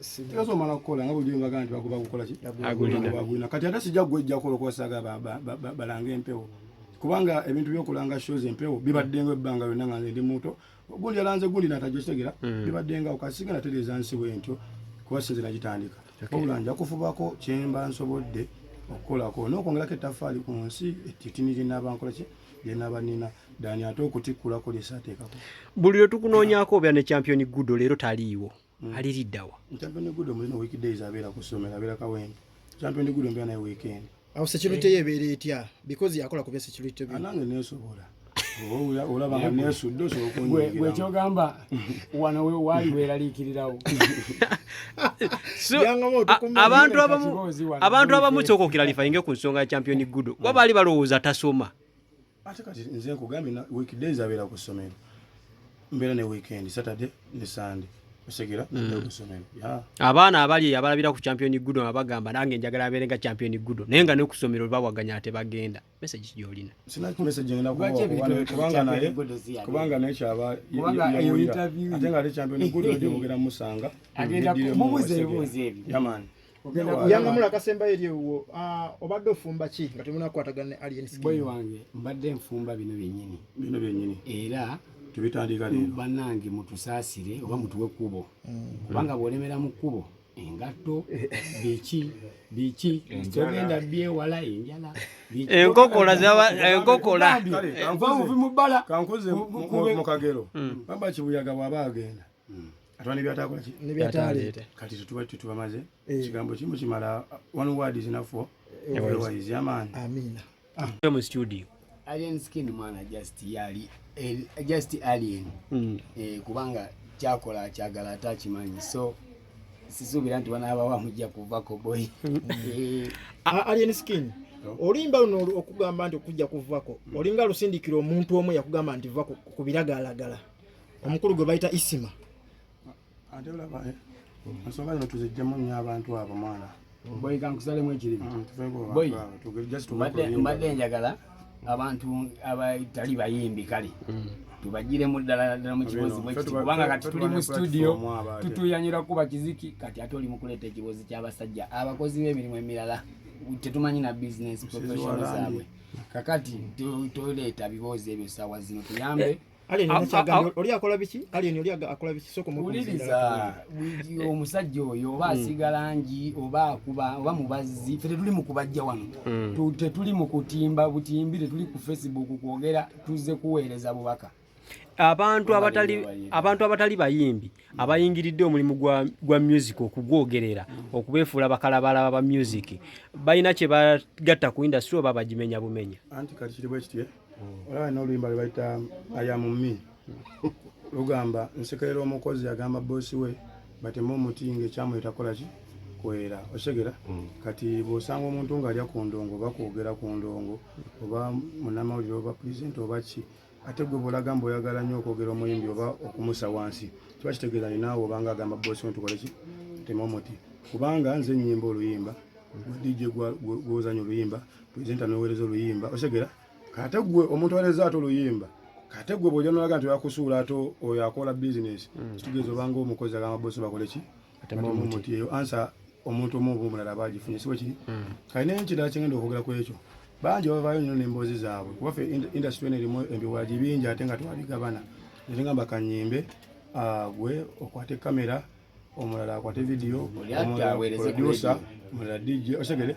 Sikazo mala kola nga bujumba gani bakuba kukola ki? Agulina. Agulina. Kati ate sija gwejja kola kwa saga ba ba ba, ba, balanga empewo. Kubanga ebintu byo kulanga shows empewo bibadde ngo ebbanga yonna nga ndi muto. Gundi alanze gundi natajwa kitegera. Mm. Bibadde nga okasiga na teleza nsi bwentyo. Kwa sinze najitandika. Okay. Obula nja kufubako kyemba nsobodde okukolako n'okwongerako ettaffaali ku nsi etitini gye nnaaba nkola ki byenabanina dani ate okutikkulako lyesaateekako buli lwe tukunoonyako obeera ne champion gudo leero taliiwo hmm. aliriddawa champion gudo mulina week days abeera ku ssomero abeera kawempe champion gudo mbeera naye weekend awo security ye ebeera etya because yakola kubya security anange nesobola olaba nga nesudde osobola okunyigiramu wano we wali weralikirirawo abantu abamu abantu abamu kyoka okiralifa inge ku nsonga ya champion gudo kuba baali balowooza tasoma ate kati nze nkugambye weekdays abeera ku ssomero mbeera ne weekend saturday ne sunday osegira mm. kusomero abaana abali abalabira ku champion gudo abagamba nange njagala abeere nga champion gudo naye nga ne ku ssomero babwaganya ate bagenda message gyolina sina ku message ngenda kuwa kubanga naye kubanga naye kyaba yo interview ate nga lecha ndo nikudo ndi bugera musanga agenda kumubuze ebuze ebi yaman yanga mula kasemba yeri wo ah, obadde ofumba ki nga tumuna kwatagana ne alien skin boy wange mbadde mfumba bino byenyini bino byenyini era tubitandika lero banange mutusasire oba mutuwe kubo mm. kubanga bolemera mu kubo engatto biki biki togenda byewala enjala enkokola zaba enkokola nva muvi mu bbala kankuze mu kagero hmm. baba kibuyaga bwaba agenda hmm. atwa nebyatakola ki nebyataleeta kati tetuba tetubamaze eh. kigambo kimu kimala one word is enough for everyone is your man amina ah. mu studio alien skin mwana just yali eh, just alien mm. eh, kubanga kyakola akyagala ate akimanyi so sisuubira nti banaabawa mujja kuvako boy mm. eh. alien skin olimba luno okugamba nti okujja kuvako mm. olinga lusindikira omuntu omu yakugamba nti va ku biragalalagala omukulu gwe bayita isima ate olaba eh, ensonga zino tuzijjemu nnyo abantu abo mwana mm. boyi kankusalemu ekirimu mm, boyi mbadde njagala abantu abatali bayimbi kale mm. tubajiremu ddala ddala mu kibozi bwekiti kubanga kati tuli mu studio tutuyanyira kuba kiziki kati ate oli mukuleeta ekibozi ky'abasajja abakozi b'emirimu emirala tetumanyi na business professional zaabwe kakati toleeta biboozi ebyo saawa zino tuyambe omusajja oyo oba hmm. asiga langi oba akuba oba mubazzi fe tetuli mukubajja wano hmm. tetuli mukutimba butimbi tetuli ku facebook kwogera tuzze kuweereza bubaka abantu abatali abantu abatali bayimbi abayingiridde omulimu gwa, gwa music okugwogerera okubeefuula bakalabalaba ba music balina kye bagatta ku industry oba bagimenya bumenya anti kati kiri bwekitye olaba noluyimba lwebayita ayamumi lugamba nsekerera omukozi agamba bosi we batema omuti nga ekyamuletakolaki kwera osegera mm. kati bwosanga omuntu nga alya ku ndongo oba kwogera ku ndongo oba munamawulire oba pulezidenti oba ki ate gwe bwolaga mbu oyagala nnyo okwogera omuyimbi oba okumusa wansi kiba kitegeeza ninaawe obanga agamba bosi we tukoleki tema omuti kubanga nze enyimba oluyimba gwe dj gwozanya oluyimba presenter nowereza oluyimba osegera kate gwe omuntu awereza ate oluyimba kate gwe bwoja nolaga nti oyakusuula ate oyo akola business mm. kitegeeza obanga omukozi agamba bosi bakole ki atemuti eyo ansa omuntu omu oba omulala aba agifunye si bwekiri mm. kale naye ekirala kyengenda okwogera ku ekyo bangi bavaayo nyo nemboozi zaabwe kuba fe industry eno erimu embiwagi bingi ate nga twabigabana nate ngamba kanyimbe ah, gwe okwate kamera omulala akwate vidiyo omulala producer omulala dj osegere